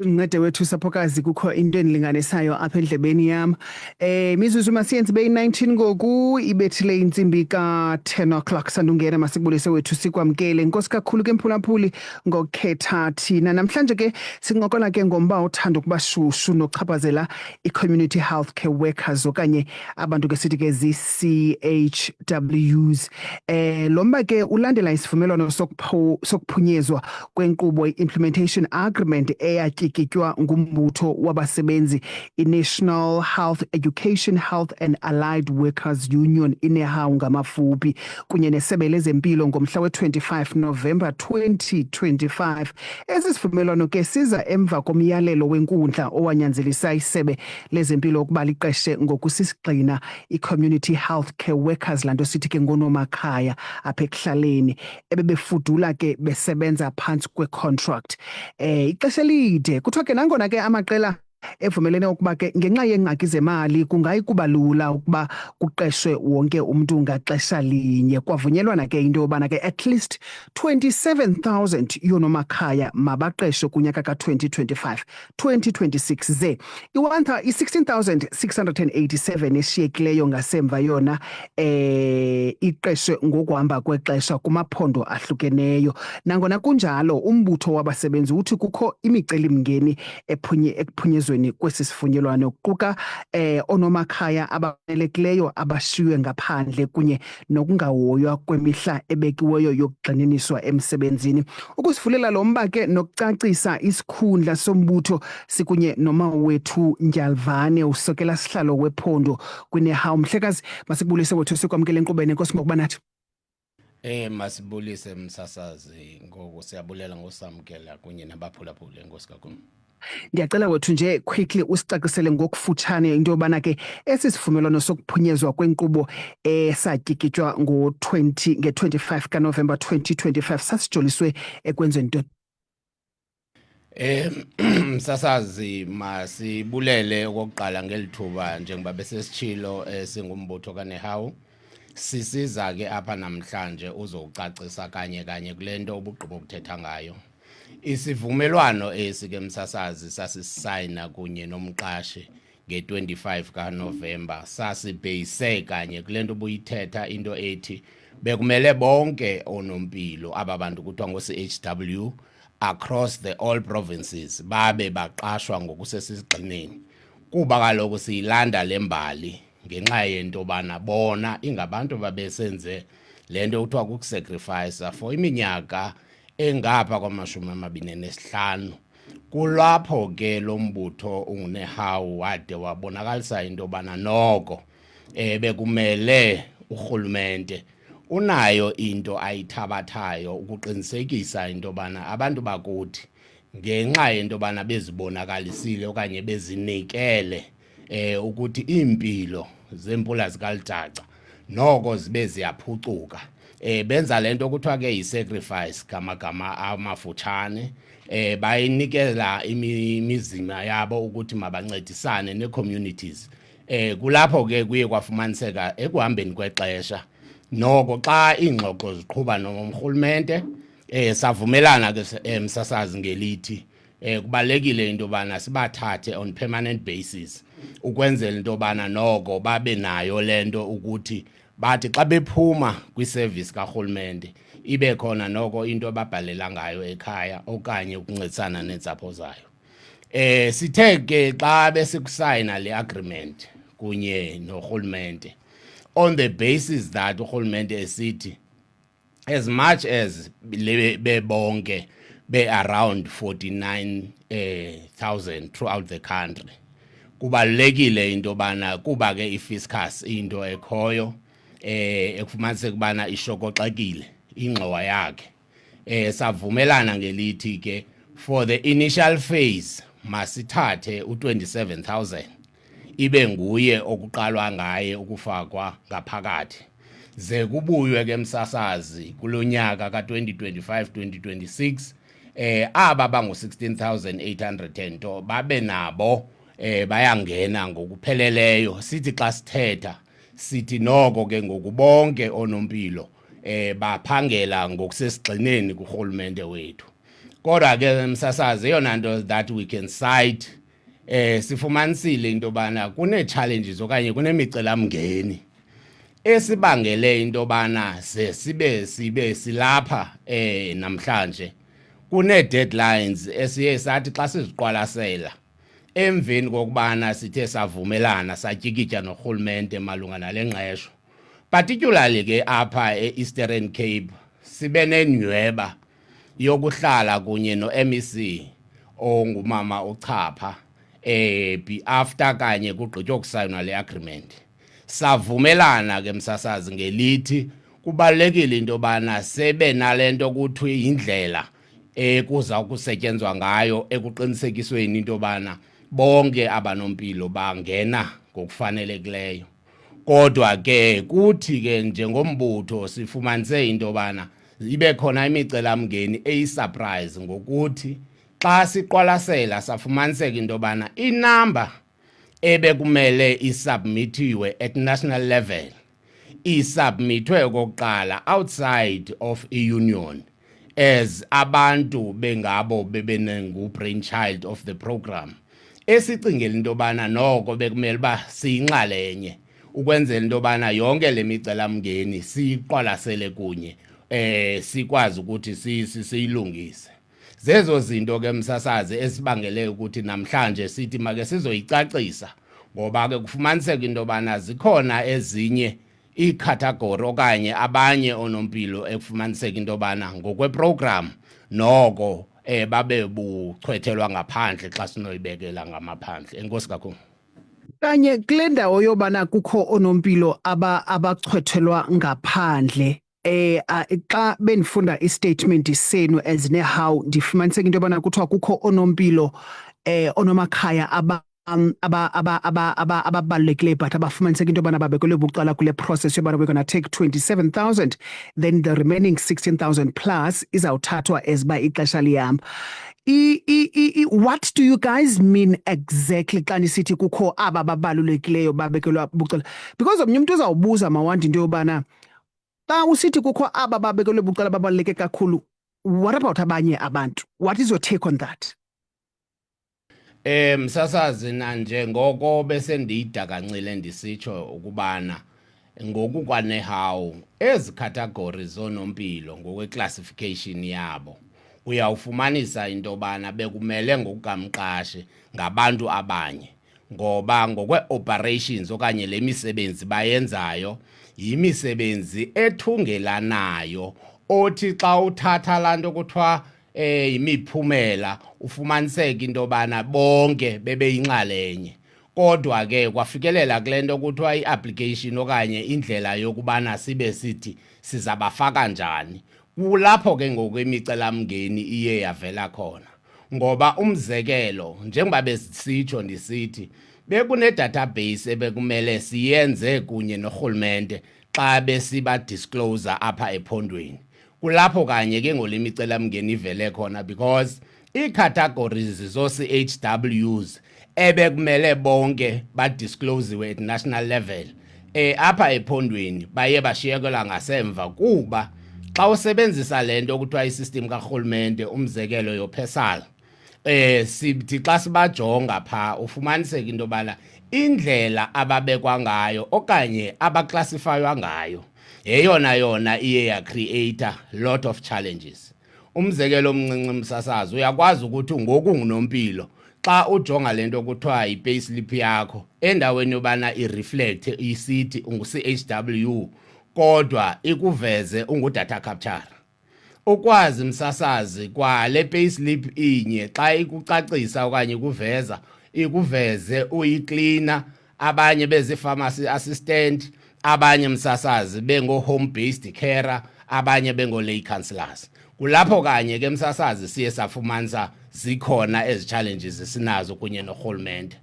Ncede wethu saphokazi kukho into endilinganisayo apha endlebeni yam. Eh mizuzu masiyenze ibe yi-19 ngoku ibethile intsimbi ka-10 o'clock sandungena masikubulise wethu sikwamkele. Inkosi kakhulu ke mphulaphuli ngokukhetha thina. Namhlanje ke sincokola ke ngomba othanda ukuba shushu nochaphazela i-community health care workers okanye abantu ke sithi ke zii-CHWs. Eh lo mba ke ulandela isivumelwano sokuphunyezwa kwenkqubo i-implementation agreement eyatyikitywa ngumbutho wabasebenzi i-national health education health and allied workers union inehawu ngamafuphi kunye nesebe lezempilo ngomhla we-25 novemba 2025 esi sivumelwano ke siza emva komyalelo wenkundla owanyanzelisa isebe lezempilo ukuba liqeshe ngokusisigxina i-community health care workers laa nto sithi ke ngonomakhaya apha ekuhlaleni ebebefudula ke besebenza phantsi kwecontract eh ixesha elide kuthiwa ke nangona ke amaqela evumelene ukuba ke ngenxa yeengxaki zemali kungayi kuba lula ukuba kuqeshwe wonke umntu ngaxesha linye kwavunyelwana ke into yobana ke at least 27000 yoonomakhaya mabaqeshwe kunyaka ka-2025 2026 ze i-16687 eshiyekileyo ngasemva yona eh iqeshwe ngokuhamba kwexesha kumaphondo ahlukeneyo nangona kunjalo umbutho wabasebenzi uthi kukho imicelimngeni ephunye ekuphunyezweni kwesi sifunyelwano kuquka eh onomakhaya abanelekileyo abashiywe ngaphandle kunye nokungahoywa kwemihla ebekiweyo yokugxininiswa emsebenzini. Ukusivulela lo mba ke nokucacisa isikhundla sombutho sikunye nomawethu Ndyalvane usokela sihlalo wephondo kwinehawu. Mhlekazi, masikubulise wethu sikwamkele enkqubeni. Enkosi ngokuba nathi. Eh masibulise msasazi ngoku siyabulela ngosamkela kunye nabaphulaphuli enkosi kakhulu. Ndiyacela wethu nje quickly usicacisele ngokufutshane into yobana ke esi sivumelwano sokuphunyezwa kwenkqubo esatyikitywa ngo-20 nge-25 kaNovemba 2025 sasijoliswe ekwenzweni into Eh msasazi masibulele okokuqala ngelithuba njengoba besesitshilo esingumbutho eh, kaNehawu sisiza ke apha namhlanje uzowucacisa kanye kanye kule nto ubugqibo ukuthetha ngayo Isivumelwano esi ke msasazi sasisayina kunye nomqashi nge-25 kaNovemba sasibheyise kanye kule nto ubuyithetha into ethi bekumele bonke onompilo aba bantu kuthiwa ngo-CHW across the all provinces babe baqashwa ngokusesigxineni kuba kaloku siyilanda le mbali ngenxa yento yobana bona ingabantu babesenze le nto kuthiwa kukusacrifice for iminyaka engapha kwamashumi amabini nesihlanu kulapho ke lo mbutho ungunehawu wade wabonakalisa into yobana noko um bekumele urhulumente unayo into ayithabathayo ukuqinisekisa into yobana abantu bakuthi ngenxa yento yobana bezibonakalisile okanye bezinikele eh ukuthi impilo zempula zikalijaca noko zibe ziyaphucuka eh benza lento okuthiwa ke yisacrifice gamagama amafutshane eh bayinikela imizima yabo ukuthi mabancedisane necommunities eh kulapho ke kuye kwafumaniseka ekuhambeni kwexesha noko xa ingxoxo ziqhuba nomrhulumente eh savumelana ke emsasazi eh, ngelithi eh kubalekile into bana sibathathe on permanent basis ukwenzela into bana noko babe nayo lento ukuthi bathi xa bephuma kwiservice karhulumente ibe khona noko into ababhalela ngayo ekhaya okanye ukuncedisana neentsapho zayo eh sithe ke xa besikusayina le agreement kunye norhulumente on the basis that urhulumente esithi as much as bebonke be around 49000 eh, throughout the country kubalekile into bana kuba ke ifiscus into ekhoyo eh ekufumanise kubana ishokoxekile ingxowa yakhe eh savumelana ngelithi ke for the initial phase masithathe u27000 ibe nguye okuqalwa ngaye ukufakwa ngaphakathi ze kubuywe ke msasazi kulo nyaka ka-2025 2026 eh aba bangu-16800 to babe nabo eh bayangena ngokupheleleyo sithi xa sithetha sithi noko ke ngokubonke onompilo eh baphangela ngokusesigxineni kurhulumente wethu kodwa ke msasazi eyona nto that we can cite eh sifumanisile into yobana kunee-challenges okanye kunemicelamngeni esibangele into yobana ze sibe sibe silapha eh namhlanje kunee-deadlines esiye sathi xa siziqwalasela emveni kokubana sithe savumelana satyikitya norhulumente malunga nale ngqesho particularly ke apha e-eastern cape sibe nenyweba yokuhlala kunye no-MEC ongumama uChapha eh be after kanye kugqitywa ukusayinwa le agreement savumelana ke msasazi ngelithi kubalekile into bana sebe nalento kuthiwe indlela ekuza ukusetyenzwa ngayo ekuqinisekisweni into bana bonke abanompilo bangena ngokufanelekileyo kodwa ke kuthi ke njengombutho sifumanise into yobana ibe khona imicelamngeni eyisurprise ngokuthi xa siqwalasela safumaniseka into yobana inamba ebekumele isubmithiwe at national level isubmithwe okokuqala outside of i-union as abantu bengabo bebenengu-brain child of the program esicingela into yobana noko bekumele uba siyinxalenye ukwenzela into yobana yonke le micelamngeni siyiqwalasele kunye eh sikwazi ukuthi siyilungise zezo zinto ke msasazi esibangele ukuthi namhlanje sithi make sizoyicacisa ngoba ke kufumaniseka into yobana zikhona ezinye iikhathagori okanye abanye oonompilo ekufumaniseka into yobana ngokweprogram noko um babe buchwethelwa ngaphandle xa sinoyibekela ngamaphandle enkosi kakhulu kanye kule ndawo yobana kukho oonompilo abachwethelwa ngaphandle eh xa benifunda istatement senu as nehow ndifumaniseka into yobana kuthiwa kukho onompilo eh onomakhaya aba um aba aba aba aba ababalulekileyo but abafumaniseka into yobana babekelwe bucala kule process yobana we're gonna take 27000 then the remaining 16000 plus izawuthathwa as uba ixesha lihamba what do you guys mean exactly xa nisithi kukho aba babalulekileyo babekelwa bucala because omnye umntu uzawubuza mawandi into yobana xa usithi kukho aba babekelwe bucala babaluleke kakhulu what about abanye abantu what is your take on that Eh msasazi nanje ngoko bese ndiyidakancile ndisitsho ukubana ngokukwanehawu ezi category zonompilo ngokweclassification yabo uyawufumanisa into yobana bekumele ngokukamqashi ngabantu abanye ngoba ngokwe-operations okanye le misebenzi bayenzayo yimisebenzi ethungelanayo othi xa uthatha laa nto kuthiwa eh imiphumela ufumaniseka into yobana bonke bebeyinxalenye kodwa ke kwafikelela kule nto kuthiwa i-application okanye indlela yokubana sibe sithi sizabafaka njani kulapho ke ngoku imicelamngeni iye yavela khona ngoba umzekelo njengoba besitsho ndisithi bekunedatabase ebekumele siyenze kunye norhulumente xa besiba disclose apha ephondweni kulapho kanye ke ngole imicelamngeni ivele khona because ii-categories zoo-chws ebekumele bonke badisclosiwe at national level eh apha ephondweni baye bashiyekela ngasemva kuba xa usebenzisa le nto okuthiwa i-system karhulumente umzekelo yophesala eh sithi xa sibajonga pha ufumaniseka into yobana indlela ababekwa ngayo okanye abaklasifaywa ngayo yeyona yona iye yacreata lot of challenges umzekelo omncinci msasazi uyakwazi ukuthi ngoku ngunompilo xa ujonga le nto kuthiwa yi-payslip yakho endaweni yobana ireflect isithi ungu-chw kodwa ikuveze ungudata capture ukwazi msasazi kwale payslip inye xa ikucacisa okanye ikuveza ikuveze uyiklina abanye bezii-pharmacy assistant abanye msasazi bengo-home based carer abanye bengo-lay councillors kulapho kanye ke msasazi siye safumanisa zikhona ezi challenges esinazo kunye norhulumente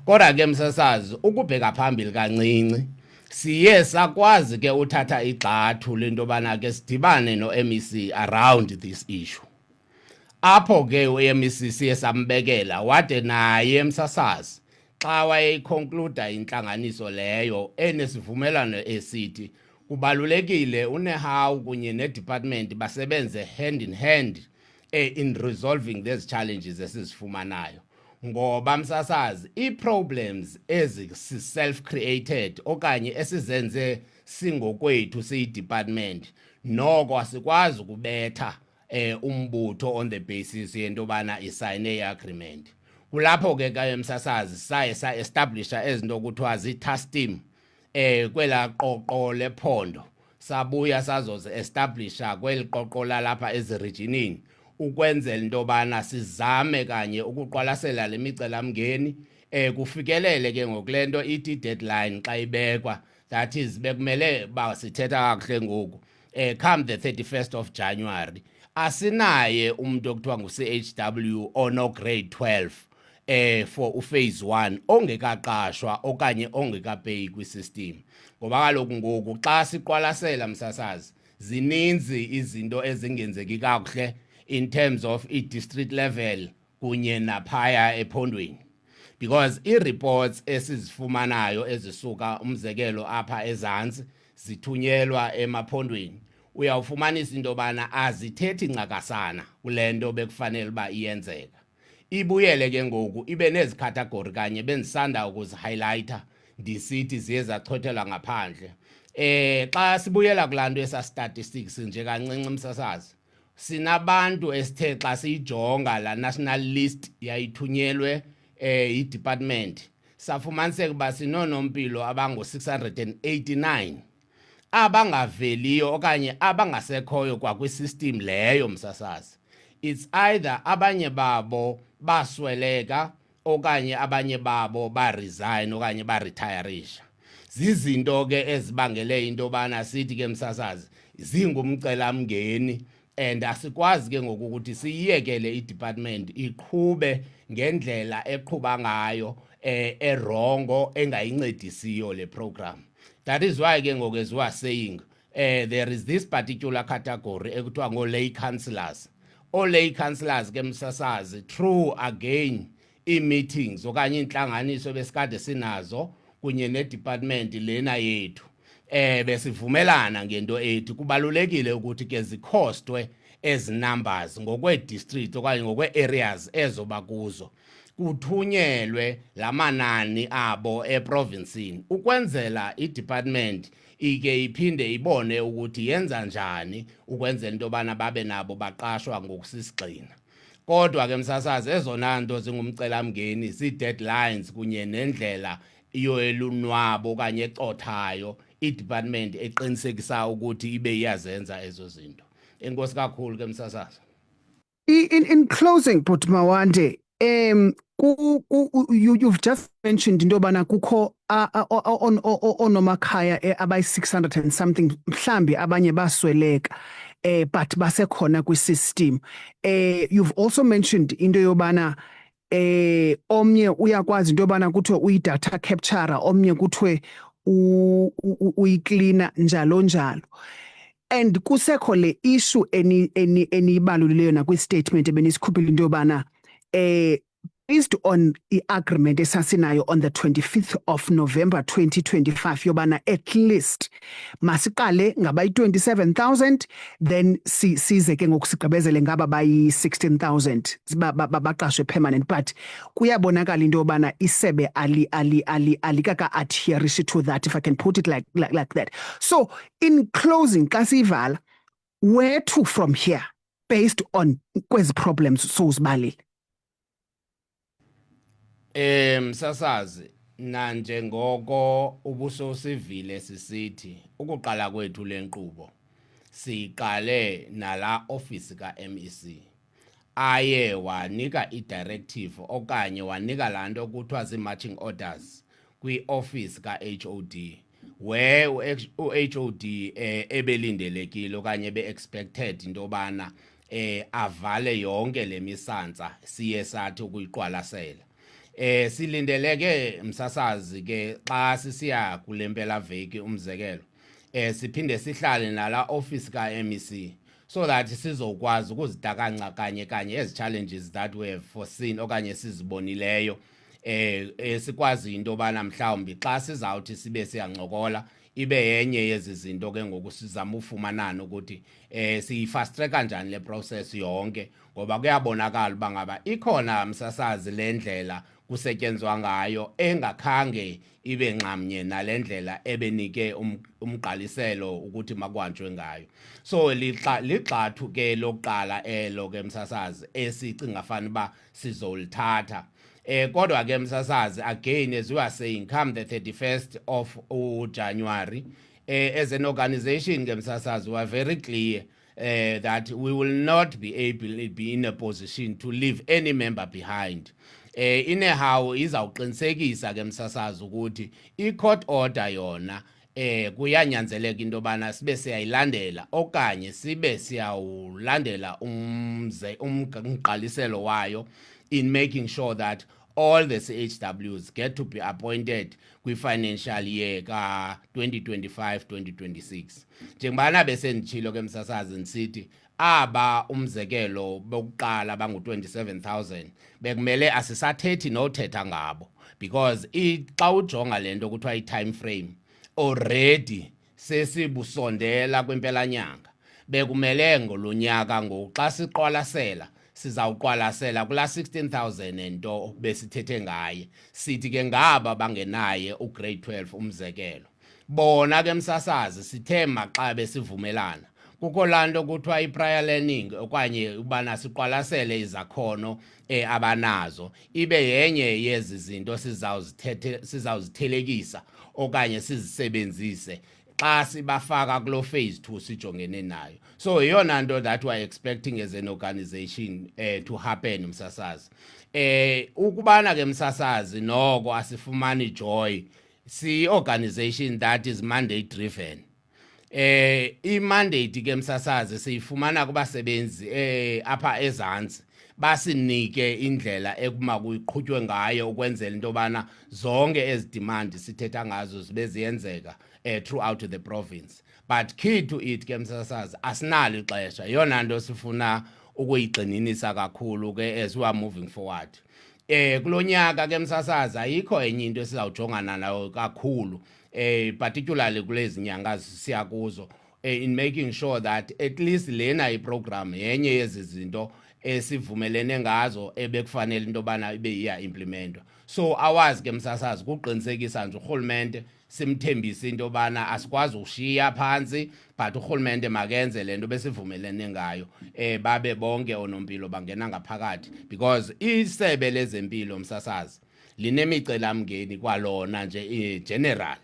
kodwa ke msasazi ukubheka phambili kancinci siye sakwazi ke uthatha igxathu lento bana ke sidibane no-MEC around this issue apho ke u-MEC siye sambekela wade naye emsasazi xa wayeyiconcluda intlanganiso leyo enesivumelwano esithi kubalulekile unehawu kunye nedepartment basebenze hand in hand eh, in resolving these challenges esizifumanayo ngoba msasazi ii-problems ezisi-self created okanye esizenze singokwethu siyidepartment noko asikwazi ukubetha eh umbutho on the basis yento yobana isayine i-agreement kulapho ke kaye msasazi saye sa-establisha ezinto kuthiwa zii-tastim eh kwela qoqo lephondo sabuya sazozi-establisha kweli qoqo lalapha ezirijinini ukwenzela into yobana sizame kanye ukuqwalasela le micelamngeni um kufikelele ke ngoku le nto ithi deadline xa ibekwa that is bekumele uba sithetha kakuhle ngoku um come the 31st of january asinaye umntu okuthiwa ngu-chw onograde 12 eh for uphase 1 ongekaqashwa okanye ongekapeyi kwisystem ngoba kaloku ngoku xa siqwalasela msasazi zininzi izinto ezingenzeki kakuhle in terms of i-district level kunye naphaya ephondweni because i-reports esizifumanayo ezisuka umzekelo apha ezantsi zithunyelwa emaphondweni uyawufumanisa into yobana azithethi ncakasana kule nto bekufanele uba iyenzeka ibuyele ke ngoku ibe nezi category kanye bendisanda ukuzihighlighter ndisithi ziye zachothelwa ngaphandle eh xa sibuyela kulanto esa statistics nje kancinci msasazi sinabantu esithe xa siyijonga la national list yayithunyelwe eh i-department safumaniseka uba sinoonompilo abangu-689 abangaveliyo okanye abangasekhoyo kwakwisystem leyo msasazi it's either abanye babo basweleka okanye abanye babo baresign okanye baretirisha zizinto ke ezibangele into yobana sithi ke msasazi zingumcelamngeni and asikwazi ke ngoku ukuthi siyiyekele idepartment iqhube ngendlela eqhuba ngayo eh erongo engayincedisiyo le program that is why ke ngoku as we are saying eh there is this particular category ekuthiwa ngo lay councillors o lay councillors ke msasazi true again ii-meetings okanye iintlanganiso besikade sinazo kunye nedepartment lena yethu eh besivumelana ngento ethi kubalulekile ukuthi ke zikhostwe ezi numbers ngokweedistrict okanye ngokwe-areas ezoba kuzo kuthunyelwe la manani abo eprovinsini ukwenzela idepartment ike iphinde ibone ukuthi yenza njani ukwenzela into yobana babe nabo baqashwa ngokusisigxina Kodwa ke msasazi ezona nto zingumcelamngeni zii-deadlines kunye nendlela yoelunwabo okanye ecothayo i-department eqinisekisa ukuthi ibe iyazenza ezo zinto. Enkosi kakhulu ke msasazi. In, in closing, Bhuti Mawande, um, ku, ku, you, you've just mentioned into yobana kukho oonomakhaya eh, abayi-600 and something mhlambi abanye basweleka eh but basekhona kwi-system eh you've also mentioned into yobana eh omnye uyakwazi into yobana kuthiwe uyi-data capture omnye kuthiwe uyiklina njalo njalo and kusekho le issue eniyibalulileyo nakwi-statement ebenisukhuphile into yobana eh based on i-agreement esasinayo on the 25th of November 2025 yobana at least masiqale ngabayi-27000 then si, size ke ngoku sigqibezele ngaba bayi-16000 baqashwe permanent but kuyabonakala into yobana isebe ali ali ali alikaka-adherishi to that if i can put it like, like, like that so in closing xa siyivala where to from here based on kwezi problems sowuzibalile Eh msasazi nanjengoko ubusosivile sisithi ukuqala kwethu lenkqubo siqale nala office ka MEC aye wanika i-directive okanye wanika laa nto kuthiwa zii-marching orders kwi-ofisi ka-HOD where u-HOD eh, ebelindelekile okanye ebe-expected into yobana eh avale yonke lemisantsa siye sathi ukuyiqwalasela eh silindeleke msasazi ke xa sisiya kulempela veki umzekelo eh siphinde sihlale nala office ka MEC so that sizokwazi ukuzitakanca kanye kanye ezi challenges that we have foreseen okanye sizibonileyo eh esikwazi into bana mhlawumbi xa sizawuthi sibe siyancokola ibe yenye yezi zinto ke ngoku sizama ufumanana ukuthi eh siyifast track kanjani le process yonke ngoba kuyabonakala uba ngaba ikhona msasazi le ndlela kusetyenzwa ngayo engakhange ibe nxamnye nale ndlela ebenike um, umgqaliselo ukuthi makuhanjwe ngayo so ligxathu ke lokuqala elo ke msasazi esicinga fana uba sizolithatha eh kodwa ke msasazi again as you are saying come the 31st of uJanuary eh as an organization ke msasazi we are very clear uh, that we will not be able be in a position to leave any member behind eh inehawu izawuqinisekisa ke msasazi ukuthi i-court order yona eh kuyanyanzeleka into yobana sibe siyayilandela okanye sibe siyawulandela umze umgqaliselo wayo in making sure that all the CHWs get to be appointed kwi-financial year ka-2025-2026 njengobana besenditshilo ke msasazi ndisithi aba umzekelo bokuqala bangu-27000 bekumele asisathethi nothetha ngabo because xa ujonga le nto kuthiwa i-time frame already Sesibusondela kwimpelanyanga. Bekumele ngolunyaka ngoku xa siqwalasela sizawuqwalasela kula 16000 nento besithethe ngaye sithi ke ngaba bangenaye ugrade 12 umzekelo bona ke msasazi sithe maxa besivumelana kukho lanto kuthiwa iprior learning okanye ubana siqwalasele izakhono e, abanazo ibe yenye yezi zinto sizawuzithethe sizawuzithelekisa okanye sizisebenzise xa sibafaka kulo phase 2 sijongene nayo so yeyona nto that we are expecting as an organization eh, to happen msasazi eh ukubana ke msasazi noko asifumani joy si organization that is mandate driven eh imandate ke msasazi siyifumana kubasebenzi eh apha ezantsi basinike indlela ekuma kuyiqhutywe ngayo ukwenzela into yobana zonke ezi demand sithetha ngazo zibe ziyenzeka eh throughout the province but key to it ke msasazi asinalo ixesha yona nto sifuna ukuyigxininisa kakhulu ke as we are moving forward eh kulonyaka ke msasazi ayikho enye into esizawujongana nayo kakhulu eh particularly kulezi nyanga siya kuzo eh, in making sure that at least lena iprogram yenye yezi zinto esivumelene ngazo ebekufanele into yobana ibe iya implementwa so awazi ke msasazi kuqinisekisa nje urhulumente simthembise into yobana asikwazi ukushiya phantsi but urhulumente makenze le nto besivumelene ngayo um babe bonke oonompilo bangena ngaphakathi because isebe lezempilo msasazi linemicelamngeni kwalona nje igeneral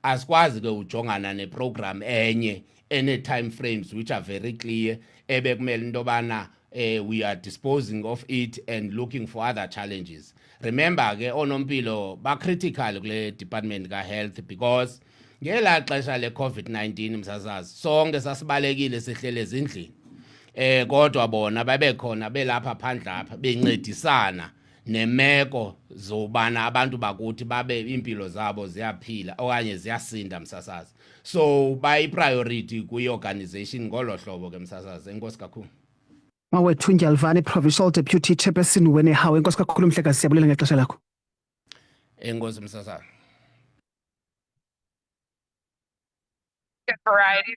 asikwazi ke ujongana neprogram enye ene-time frames which are very clear ebekumele into yobana uh, we are disposing of it and looking for other challenges remember ke oonompilo bacritical kule department ka-health because ngelaa xesha le-covid-19 msasazi sonke sasibalekile sihlele ezindlini eh kodwa bona babekhona belapha phandle apha bencedisana nemeko zobana abantu bakuthi babe iimpilo zabo ziyaphila okanye ziyasinda msasazi so bayipriority kwi-organization ngolo hlobo ke msasazi enkosi kakhulu mawethu ndyalvane provincial deputy chairperson wenehawu enkosi kakhulu mhlekazi siyabulela ngexesha lakho enkosi msasazi variety